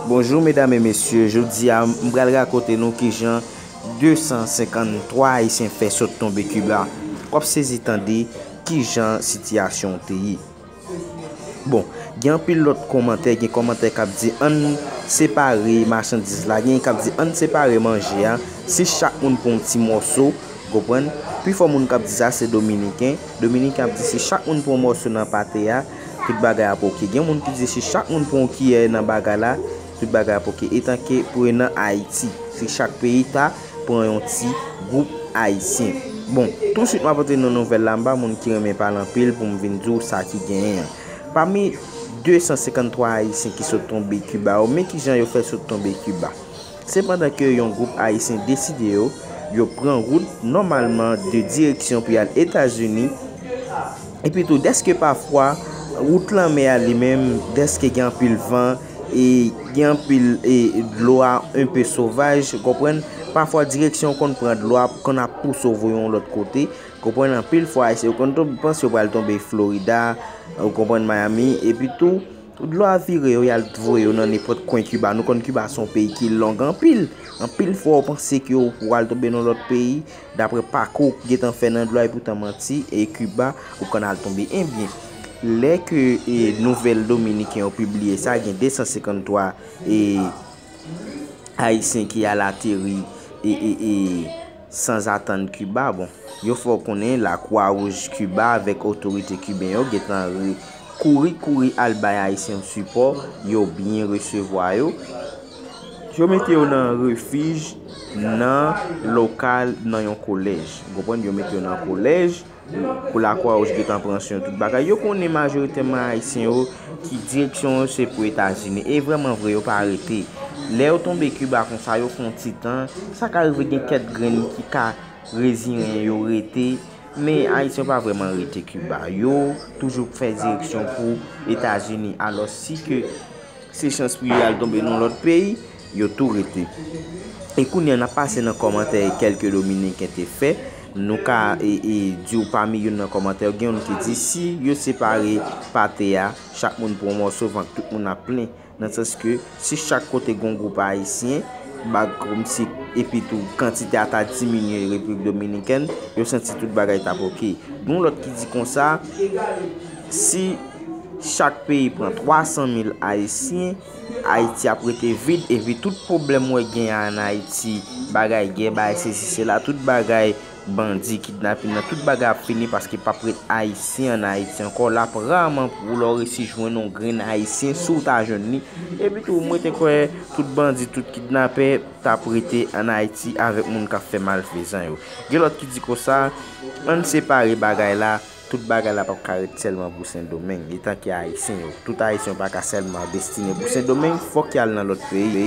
Bonjou medam e mesye, jodi a m pral rakonte nou kijan 253 ayisyen fè sot tonbe Kiba. W ap sezi tande kijan sitiyasyon an te ye. Bon, gen anpil lòt kòmantè, gen kòmantè k ap di ann separe machandiz la, gen k ap di ann separe manje a, si chak moun pran yon ti mòso, w konprann, pifò moun k ap di sa se dominiken, dominiken ap di si chak moun pran yon mòso nan pate a, tout bagay ap ok. Gen moun ki di si chak moun pran yon kiyè nan bagay la, tout bagay ap ok. Etanke prenan Ayiti, si chak peyi ta pran yon ti gwoup Ayisyen. Bon, tousuit m ap antre nan nouvèl la, m pa moun ki renmen pale anpil pou m vin di w sa ki genyen an. Pami 253 Ayisyen ki sot tonbe Kiba yo, men kijan yo fè sot tonbe Kiba. Se pandan ke yon gwoup Ayisyen deside yo, yo pran wout nòmalman de direksyon pou y al Etazini, epi tou dèske pafwa wout lanmè a li menm, dèske gen anpil van, e gen anpil e dlo a enpe sovaj, konprann, pafwa direksyon ou konn pran dlo a konn ap pouse w voye w yon lòt kote, konprann, anpil fwa Ayisyen yo konn tonbe, panse yo pral tonbe Florida, ou konprann, Miami, epi tou. Pou dlo a vire yo, y al t voye yo nan nenpòt kwen Kiba. Nou konn Kiba se yon peyi ki long anpil. Anpil fwa ou panse ke ou pral tonbe nan lòt peyi, dapre pakou ou gentan fè nan dlo a epi w tan manti, e Kiba ou konn al tonbe. Ebyen, lè ke nouvèl dominiken yo pibliye sa, gen 253 ayisyen ki al ateri. Sanzatann Kiba, bon, yo fè w konnen Lakwa Wouj Kiba avèk otorite kiben yo gen tan kouri kouri al bay Ayisyen yo sipò, yo byen resevwa yo, yo mete yo nan refij nan lokal nan yon kolèj. Ou konprann? Yo mete yo nan kolèj. pou lakwa wouj gentan pran syon tout bagay yo konnen majoritèman ayisyen yo ki direksyon yo se pou etazini e vrèman vre yo pa rete lè yo tonbe kiba konsa yo fon ti tan sa ka rive gen kèt grenn ki ka reziyen yo rete men ayisyen yo pa vrèman rete kiba yo toujou fè direksyon pou etazini alòs si ke Se chans pou yo al tonbe nan lòt peyi, yo tou rete. E kounye a, n ap pase nan kòmantè kèlke Dominiken te fè. Nou ka di w pami youn nan kòmantè yo, gen youn ki di, si yo separe pate a, chak moun pran yon mòso, vant tout moun ap plen. Nan sans ke, si chak kote gen yon gwoup Ayisyen, kòmsi, epitou kantite a ta diminye Repiblik Dominikèn, yo santi tout bagay t ap ok. Gen yon lòt ki di konsa, si. Chak peyi pran 300 mil ayisyen, ayiti ap rete vid epi tout pwoblèm wè gen an ayiti, bagay gè, bagay sesi sela, tout bagay bandi, kidnapin nan, tout bagay ap fini paske pap ret ayisyen an ayiti ankò, lap raman pou lè w resi jwenn yon grenn ayisyen, si w ta jwenn li, epi tou mwen te kwè tout bandi, tout kidnapè tap rete an ayiti avèk moun kap fè malfezan yo. Gen lòt ki di konsa, ann separe bagay la. Tout bagay la pap ka ret sèlman pou sendomeng etan ke ayisyen yo tout ayisyen yo paka sèlman destine pou sendomeng fòk yal nan lòt peyi.